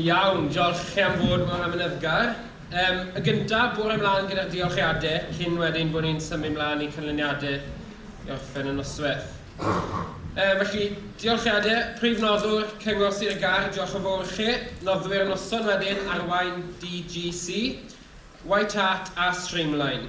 Iawn, diolch chi am fod mor amyneddgar. Yym, y gynta, bore mlaen gyda'r diolchiade, cyn wedyn bod ni'n symud mlaen i canlyniade i orffen y nosweth. Yy, felly, diolchiade, Prif Noddwr, Cyngor Sir y Gâr, diolch yn fowr chi, Noddwyr y Noson wedyn, Arwain DGC, White Hart a Streamline.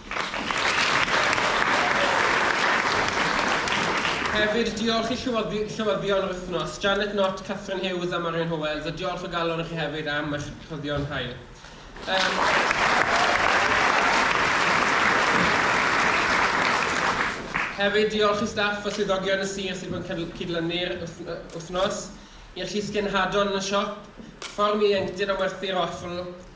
Hefyd, diolch i Llywodd- Llywyddion yr Wythnos, Janet Knott, Catherine Hughes a Marion Howells, a diolch o galon i chi hefyd am eich rhoddion hael. Hefyd, diolch i staff a swyddogion y sir sydd wedi cydlynu'r wythnos, i'r llysgenhadon yn y siop, fform ieuenctid am werthu'r offl,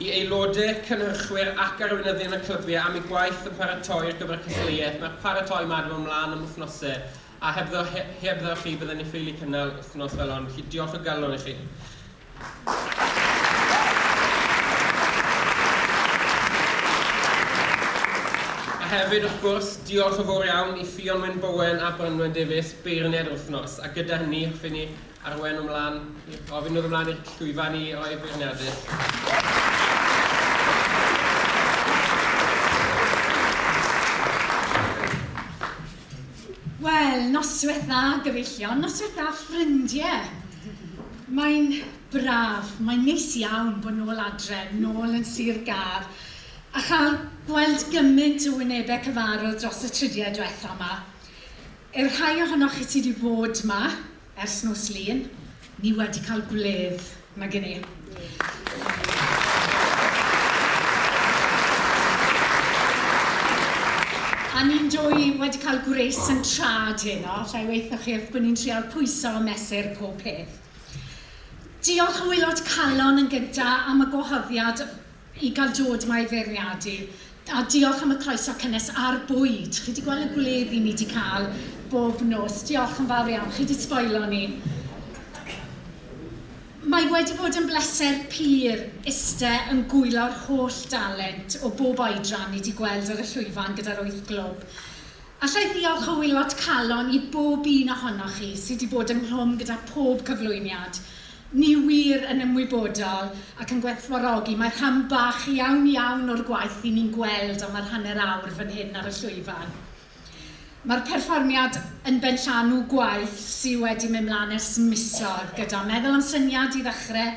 I aelodau, cynhyrchwyr ac arweinyddion y clybiau am eu gwaith yn paratoi ar gyfer y cystadleuaeth. Mae'r paratoi yma ar yml mlaen am wythnosau a hebddo, he, hebddo chi byddwn ni'n ffeili cynnal wythnos fel hon. Felly diolch o galon i chi. hefyd, wrth gwrs, diolch yn fawr iawn i Ffion Wyn Bowen a Branwen Davies, beirniaid yr wythnos, a gyda hynny, hoffwn i Arwain nhw mlaen, gofyn nhw ymlaen i'r llwyfan i roi Wel, noswaith dda, gyfeillion. Noswaith dda, ffrindiau. Mae'n braf, mae'n neis iawn bod nôl adre, nôl yn Sir Gâr, a chael gweld gymaint o wynebau cyfarwydd dros y tridiau diwetha' yma. I'r rhai ohonoch chi sydd wedi bod yma, Ers nos Lun, ni wedi cael gwledd nag i ni. A ni'n dwy wedi cael gwres yn trad heno, lle weithio chi wrth bod ni'n trial pwyso a mesur pob peth. Diolch o waelod calon yn gyda am y gwahoddiad i gael dod ma i feirniadu a diolch am y croeso cynnes a'r bwyd. Chi wedi gweld y gwledd i ni wedi cael bob nos. Diolch yn fawr iawn, chi wedi sboilo ni. Mae wedi bod yn bleser pur iste yn gwyllo'r holl dalent o bob oedran ni wedi gweld ar y llwyfan gyda'r wyth glwb. Alla i ddiolch o wylot calon i bob un ohonoch chi sydd wedi bod ynghlwm gyda phob cyflwyniad. Ni wir yn ymwybodol ac yn gwerthfawrogi, mae rhan bach iawn iawn o'r gwaith i ni'n gweld am yr hanner awr fan hyn ar y llwyfan. Mae'r perfformiad yn benllanw gwaith sydd wedi mynd mlaen ers misoedd gyda meddwl am syniad i ddechrau,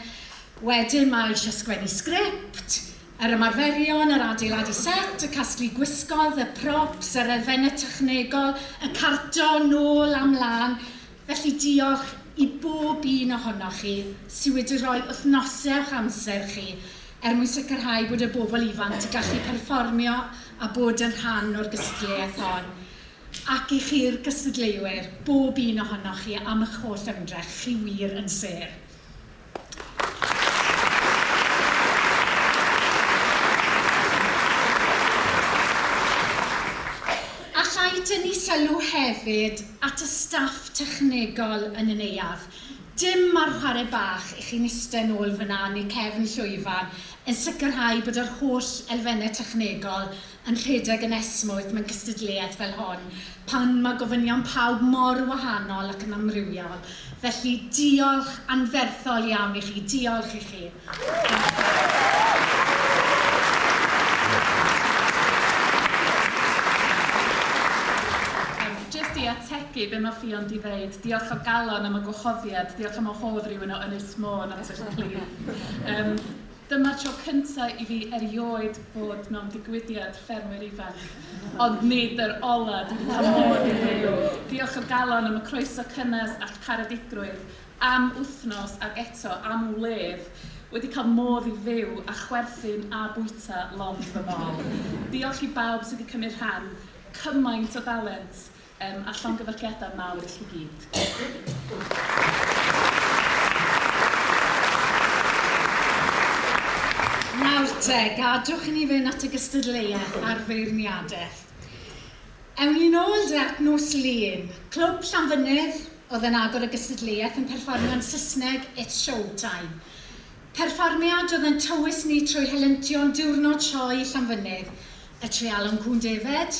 wedyn mae eisiau sgwennu sgript, yr ymarferion, yr adeiladu set, y casglu gwisgoedd, y props, yr elfennau technegol, y carto, nôl a mlaen, Felly diolch i bob un ohonoch chi sy wedi rhoi wythnosau o'ch amser chi er mwyn sicrhau bod y bobl ifanc yn gallu perfformio a bod yn rhan o'r gystadleuaeth hon. Ac i chi'r gystadleuwyr, bob un ohonoch chi am y'ch holl ymdrech, chi wir yn sêr. Allai dynnu sylw hefyd at y staff technegol yn y neuadd. Dim ar chwarae bach i chi'n iste nôl fan'na yn eu cefn llwyfan yn sicrhau bod yr holl elfennau technegol yn rhedeg yn esmwyth mewn cystadleuaeth fel hon, pan mae gofynion pawb mor wahanol ac yn amrywiol. Felly, diolch anferthol iawn i chi. Diolch i chi. Yym, jyst i ategu be mae Ffion 'di ddeud, diolch o galon am y gwahoddiad, diolch am wahodd rywun o Ynys Môn at eich plith. Yym. Dyma'r tro cyntaf i fi erioed fod mewn digwyddiad ffermwyr ifanc, ond nid yr ola, dwi 'di cael modd i fyw. Diolch o galon am y croeso cynnes a'ch caredigrwydd am wythnos ac eto am wledd wedi cael modd i fyw a chwerthin a bwyta lond fy mol. Diolch i bawb sydd wedi cymryd rhan, cymaint o dalent! Yym, a llongyfarchiadau mawr i chi gyd. Nawr te, gadwch i ni fynd at y gystadleuaeth a'r feirniadaeth. Ewn ni nôl de at nos Lun. Clwb Llanfynydd oedd yn agor y gystadleuaeth yn perfformio'n Saesneg 'It's Show Time'. Perfformiad oedd yn tywys ni trwy helyntion Diwrnod Sioe Llanfynydd, y treialon cŵn defaid,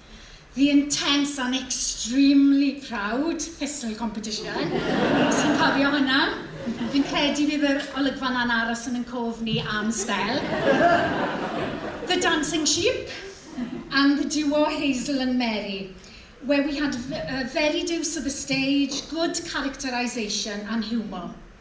The intense and extremely proud pistol competition. Os chi'n cofio hwnna. Fi'n credu bydd yr olygfa 'na'n aros yn ein cof ni am sbel. The dancing sheep and the duo Hazel and Mary, where we had very deuce of the stage, good characterisation and humour.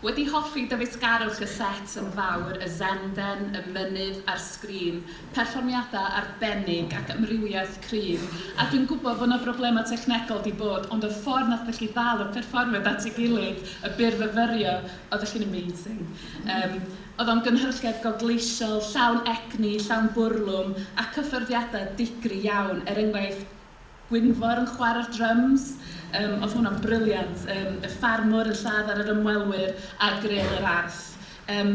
Wedi hoffi dyfeisgarwch y set yn fawr, y senden, y mynydd a'r sgrin, perfformiadau arbennig ac amrywiaeth cryf, a dwi'n gwybod fod 'na broblemau technegol 'di bod ond y ffordd nathoch chi ddal y perfformiad at ei gilydd, y byrfyfyrio, oeddech chi'n amazing. Yym oedd o'n gynhyrchiad gogleisiol, llawn egni, llawn bwrlwm a cyffyrddiadau digri iawn, er enghraifft, Gwynfor yn chwara'r dryms, yym oedd hwnna'n brilliant, yym y ffarmwr yn lladd ar yr ymwelwyr a gryn yr arth. Yym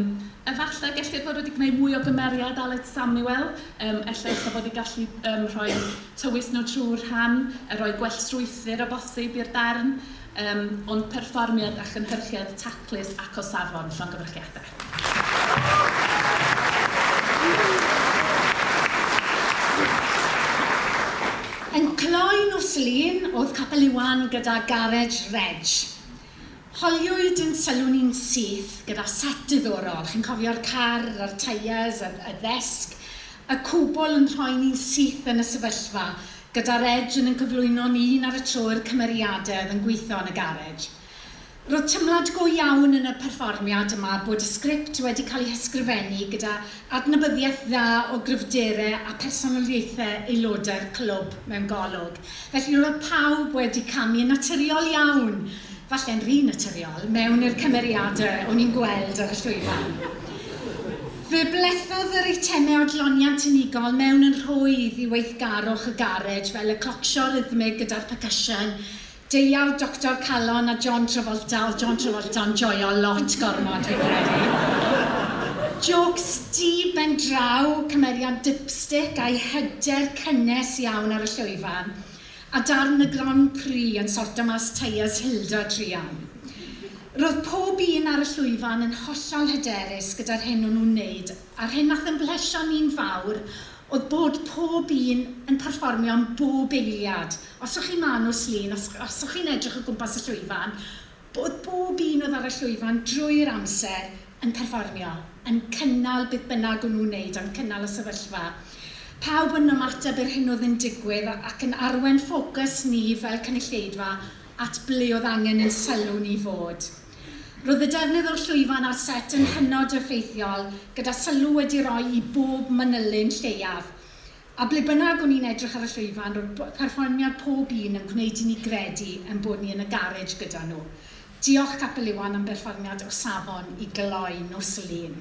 efallai gellir bod wedi gwneud mwy o gymeriad Aled Samuel, yym ella ella bod ei gallu yym rhoi tywys nhw trwy'r rhan a rhoi gwell strwythur o bosib i'r darn, yym ond perfformiad a chynhyrchiad taclus ac o safon llongyfarchiadau. Yn cloi nos Lun o'dd Capel Iwan gyda Garej Reg. Holiwyd yn sylw ni'n syth gyda set diddorol, chi'n cofio'r car a'r tyres, y y ddesg, y cwbl yn rhoi ni'n syth yn y sefyllfa gyda Reg yn yn cyflwyno ni un ar y tro i'r cymeriade oedd yn gweitho yn y garej. Roedd teimlad go iawn yn y perfformiad yma bod y sgript wedi cael ei hysgrifennu gyda adnabyddiaeth dda o gryfdere a phersonoliaethe aelodau'r clwb mewn golwg, felly roedd pawb wedi camu yn naturiol iawn, falle'n rhy naturiol, mewn i'r cymeriadau o'n i'n gweld ar y llwyfan. Fe blethodd yr eitemau odloniant unigol mewn yn rhwydd i weithgarwch y garej fel y clocsio rhythmig gyda'r percussion, Deuawd Doctor Calon a John Travolta, oedd John Travolta'n joio lot gormod fi'n credu. Jôcs du ben draw, cymeriad dipstick a'i hyder cynnes iawn ar y llwyfan, a darn y Grand Prix yn sorto mas tyres Hilda druan. Roedd pob un ar y llwyfan yn hollol hyderus gyda'r hyn o'n nhw'n wneud a'r hyn wnaeth ymhellio ni'n fawr oedd bod pob un yn perfformio yn bob eiliad. Os o'ch chi'n Manu Slun, os os o'ch chi'n edrych o gwmpas y llwyfan, oedd bob un oedd ar y llwyfan drwy'r amser yn perfformio, yn cynnal beth bynnag o'n nhw'n wneud, yn cynnal y sefyllfa. Pawb yn ymateb i'r hyn oedd yn digwydd ac yn arwain ffocws ni fel cynulleidfa at ble oedd angen ein sylw ni i fod. Roedd y defnydd o'r llwyfan a'r set yn hynod effeithiol, gyda sylw wedi roi i bob manylyn lleiaf. A ble bynnag o'n i'n edrych ar y llwyfan, roedd perfformiad pob un yn gwneud i ni gredu ein bod ni yn y garej gyda nhw. Diolch Capel Iwan am berfformiad o safon i gloi nos Lun.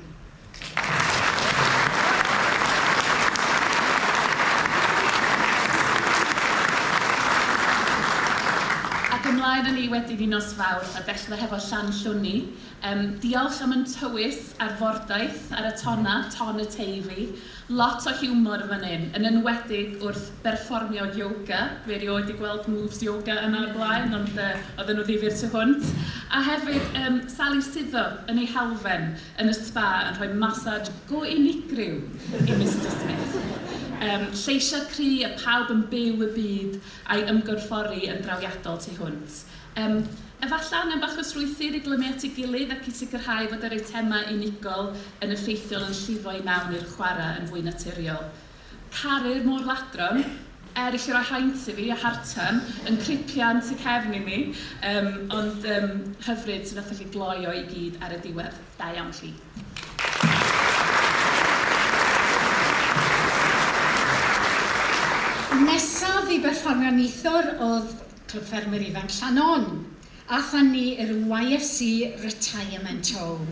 Ac ymlaen â ni wedyn i nos Fawrth a dechrau hefo Llanllwni. Yym, diolch am yn tywys a'r fordaith ar y tona, ton y Teifi. Lot o hiwmor yn fan hyn, yn enwedig wrth berfformio yoga. Dwi erioed 'di gweld moves yoga yna o'r blaen, ond yy, oedden nhw ddifyr tu hwnt. A hefyd, yym, Sali Suddo yn ei halfen. yn y sba yn rhoi massage go unigryw i Mister Smith. Yym, lleisiau cry a pawb yn byw y byd a'i ymgorffori yn drawiadol tu hwnt. Yym, efallai angen bach o strwythur i glymu at ei gilydd ac i sicrhau fod yr eitemau unigol yn effeithiol yn llifo i mewn i'r chwarae yn fwy naturiol. Caru'r môr ladron, er eisiau rhoi haint i fi a Hartan yn cripian tu cefn i mi, um, ond um, hyfryd sydd wnaeth chi gloi o i gyd ar y diwedd. Da iawn chi. Nesaf i berfformio neithwr oedd Clwb Ffermwyr Ifanc Llanon. a thynnu i'r YFC Retirement Home.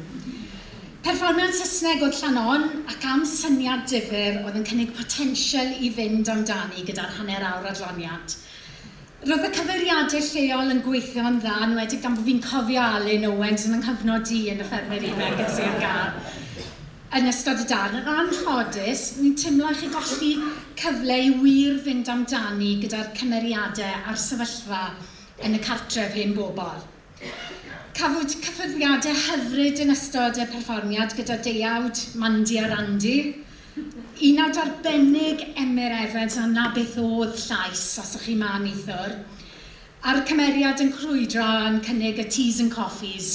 Perfformiad Saesneg oedd Llannon ac am syniad difyr oedd yn cynnig potensial i fynd amdani gyda'r hanner awr adloniad. Roedd y cyfeiriadur lleol yn gweithio'n dda, yn enwedig gan fod fi'n cofio Alun Owens yn 'y nghyfnod i yn y Ffermyr Ifanc yn Sir Gâr yn ystod y darn. Yn anffodus, fi'n timlo i chi golli cyfle i wir fynd amdani gyda'r cymeriadau a'r sefyllfa yn y cartref hen bobl. Cafwyd cyffyrddiadau hyfryd yn ystod y perfformiad gyda deuawd Mandy a Randy, unawd arbennig Emyr Evans a 'na beth o'dd llais os o'ch chi 'ma neithiwr, a'r cymeriad yn crwydro yn cynnig y teas and coffees.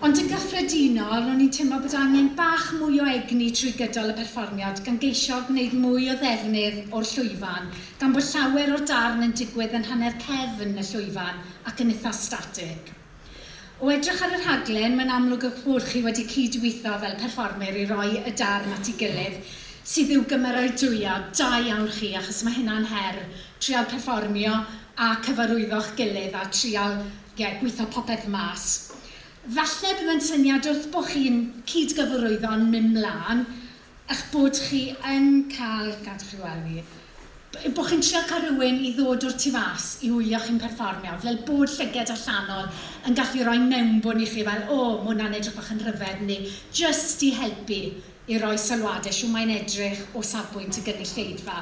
Ond yn gyffredinol, ro'n i'n teimlo bod angen bach mwy o egni trwy gydol y perfformiad, gan geisio gwneud mwy o ddefnydd o'r llwyfan Gan bod llawer o'r darn yn digwydd yn hanner cefn y llwyfan ac yn itha static. O edrych ar y rhaglen, mae'n amlwg eich bod chi wedi cyd-weithio fel perfformyr i roi y darn at ei gilydd, sydd i'w gymeradwyo, da iawn chi, achos mae hynna'n her, trial perfformio a cyfarwyddo'ch gilydd a trial, ie, gweithio popeth mas. Falle bydd yn syniad wrth bo chi'n cyd-gyfarwyddo'n mynd mlân, eich bod chi yn cael eich cadw chi wely, b- bod chi'n trio cael rhywun i ddod o'r tu fas i wylio chi'n perfformio, fel bod llyged allanol yn gallu rhoi mewnbwn i chi fel 'o, ma' hwnna'n edrych bach yn rhyfedd', neu jyst i helpu i roi sylwadau shwt mae'n edrych o safbwynt y gynulleidfa.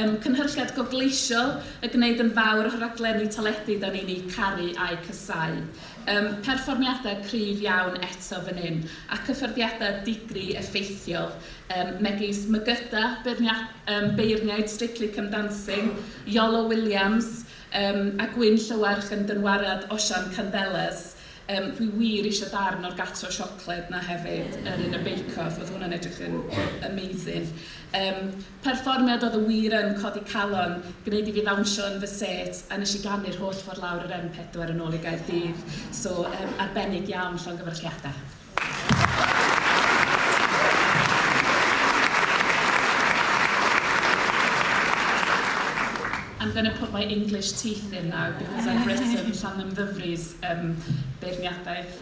Ym cynhyrchiad gofleisiol y gwneud yn fawr o'ch raglenni teledu da ni'n eu caru a'u casáu. Ym perfformiadau cryf iawn eto fan hyn, a cyffyrddiadau digri effeithiol, ym megis Mygyda, ym beirniaid Strictly Come Dancing, Iolo Williams, ym a Gwyn Llywarch yn dynwariad Osian Candelas. Ym dwi wir eisiau darn o'r Gatro Siocled 'na hefyd, yr un y Bake Off, oedd hwnna'n edrych yn amazing. Ym Perfformiad oedd y wir yn codi calon, gwneud i fi ddawnsio yn fy set a nes i ganu'r holl ffordd lawr yr M4 yn ôl i Gaerdydd. So yym arbennig iawn, llongyfarchiadau. I'm gonna put my English teeth in now because I've written Llanymddyfri's yym beirniadaeth.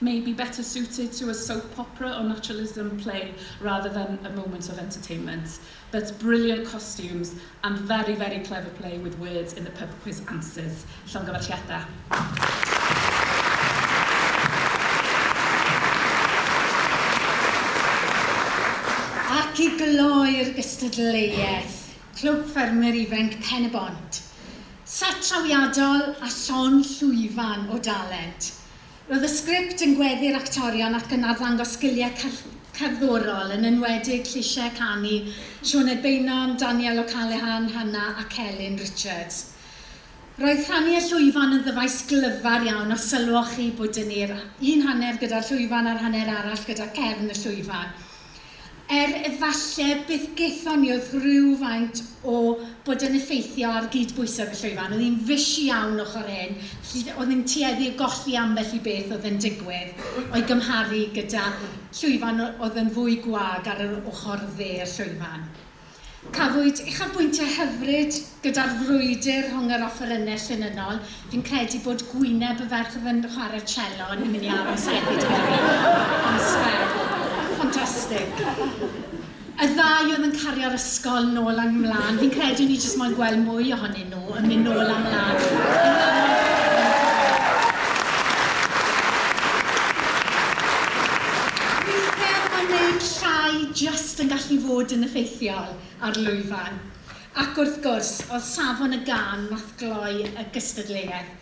may be better suited to a soap opera or naturalism play rather than a moment of entertainment, but brilliant costumes and very, very clever play with words in the pub quiz answers. Llongyfarchiadau. Ac i gloi'r gystadleuaeth, Clwb Ffermwyr Ifainc Pen-y-bont. Set trawiadol a llond llwyfan o dalent. Roedd y sgript yn gweddu'r actorion ac yn arddangos sgiliau cerddorol, yn enwedig llysiau canu Sioned Beynon, Danielle O'Callaghan, Hannah ac Elin Richards. Roedd rhannu y llwyfan yn ddyfais glyfar iawn os sylwoch chi bod 'da ni'r un hanner gyda'r llwyfan a'r hanner arall gyda cefn y llwyfan. er efallai byth gaethon ni oedd rhywfaint o bod yn effeithio ar gyd-bwyso yn y llwyfan. Oedd hi'n fish iawn ochr hyn, felly oedd hi'n tueddu o golli ambell i beth oedd yn digwydd o'i gymharu gyda llwyfan oedd yn fwy gwag ar yr ochr dde y llwyfan. Cafwyd uchafbwyntiau hyfryd gyda'r frwydr rhwng yr offerynnau llinynnol. Fi'n credu bod gwyneb y ferch oedd yn chwarae cello yn mynd i aros hefyd gyda fi am sbel. Ffantastig. Y ddau oedd yn cario'r ysgol nôl a mlaen. Fi'n credu o'n i jyst moyn gweld mwy ohonyn nhw. nhw yn mynd nôl a mlaen. Dwi'n credu mae neud llai jyst yn gallu fod yn effeithiol ar lwyfan. Ac wrth gwrs, oedd safon y gân nath gloi y gystadleuaeth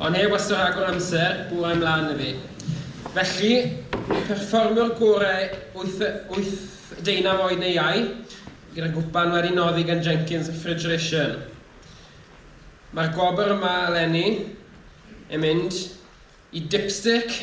Ond heb wastad rhagor o amser, bwrai 'mlaen 'na fi. Felly, perfformio'r gorau wyth wyth deunaw oed neu iau, gyda gwpan wedi noddi gan Jenkins Refrigeration. Mae'r gwobr yma eleni yn mynd i Dipstick.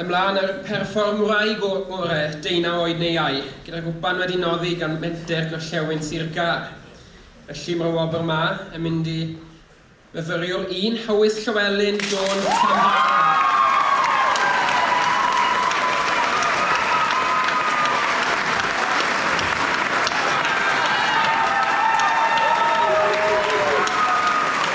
Ymlaen â'r perfformwraig o orau, deunaw oed neu iau, gyda gwpan wedi noddi gan menter Gorllewin Sir Gâr. Y lliwmro wobr 'ma yn mynd i fyfyriwr un Howys Llywelyn Jones Llanfair.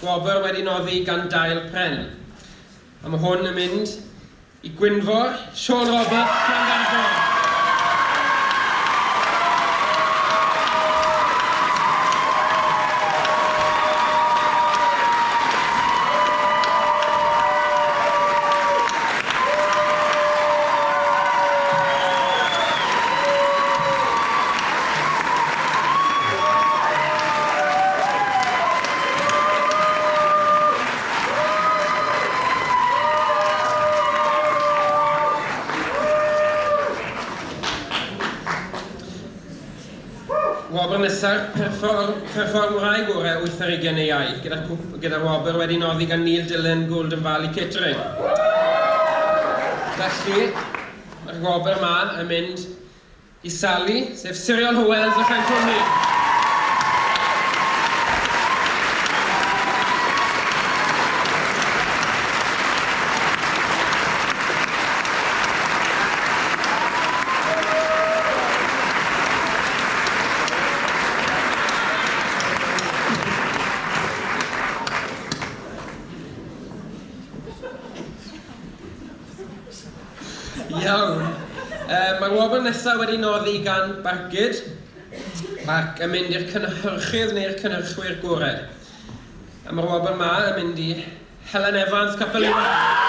Gwobr wedi noddi gan Dail Pren. A mae hwn yn mynd i Gwynfor, Siôn Roberts, Llanfairpwll. Wobr nesaf, Perfform, Perfformwraig Gorau wyth ar ugain neu ail, gyda'r cwp, gyda'r wobr wedi noddi gan Neil Dillon, Golden Valley Catering. Felly, mae'r wobr yma yn mynd i Sally, sef Siriol Hywel Fychan Cwmni. Iawn, yy mae'r wobr nesaf wedi noddi gan Barcud ac yn mynd i'r cynhyrchydd neu'r cynhyrchwyr gorau. A mae'r wobr 'ma yn mynd i Helen Evans, Capel Iwan.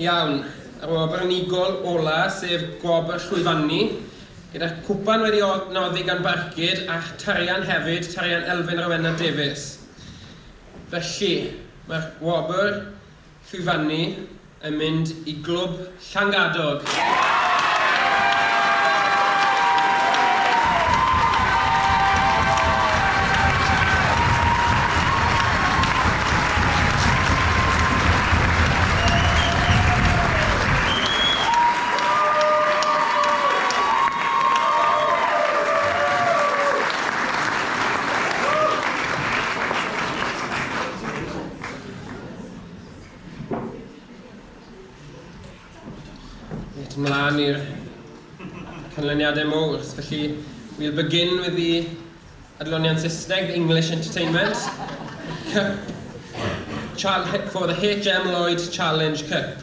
Iawn, yr wobr unigol ola, sef gwobr llwyfannu, gyda'r cwpan wedi noddi gan Barcud a'ch tarian hefyd, tarian Elfyn Rowena Davies. Felly, mae'r wobr llwyfannu yn mynd i glwb Llangadog. Reit, ymlaen i'r canlyniadau mowr. Felly, we'll begin with the adloniant Saesneg, the English Entertainment Cup for the HM Lloyd Challenge Cup.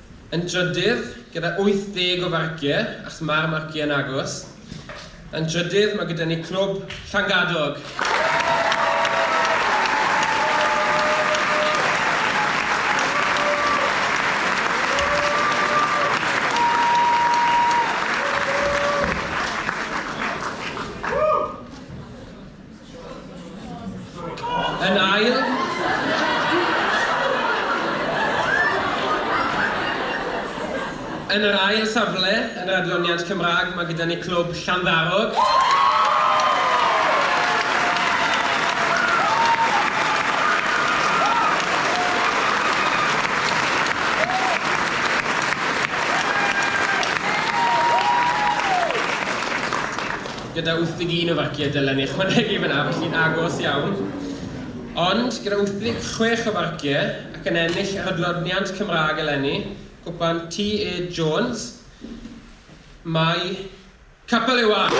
Yn drydydd, gyda 80 o farciau, achos mae'r marciau yn agos, yn drydydd mae gyda ni Clwb Llangadog. Yn ail, yn yr ail safle yn yr adloniant Cymraeg mae gyda ni Clwb Llanddarog. gyda 81 o farciau dylen ni ychwanegu fyna, felly'n agos iawn. Ond gyda 86 o farciau ac yn ennill yr adloniant Cymraeg eleni, cwpan TE Jones, mae Capel Iwan!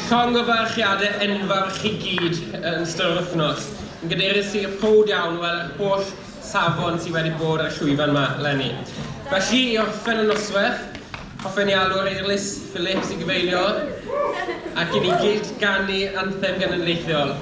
Llongyfarchiadau enfawr i chi gyd yn ystod yr wythnos. Yn gadeirys i, prowd iawn o weld yr holl safon sydd wedi bod ar y llwyfan 'ma 'leni. Felly, i orffen y nosweth, hoffen i alw'r Eirlys Phillips i gyfeilio ac i ni gyd ganu anthem genedlaethol.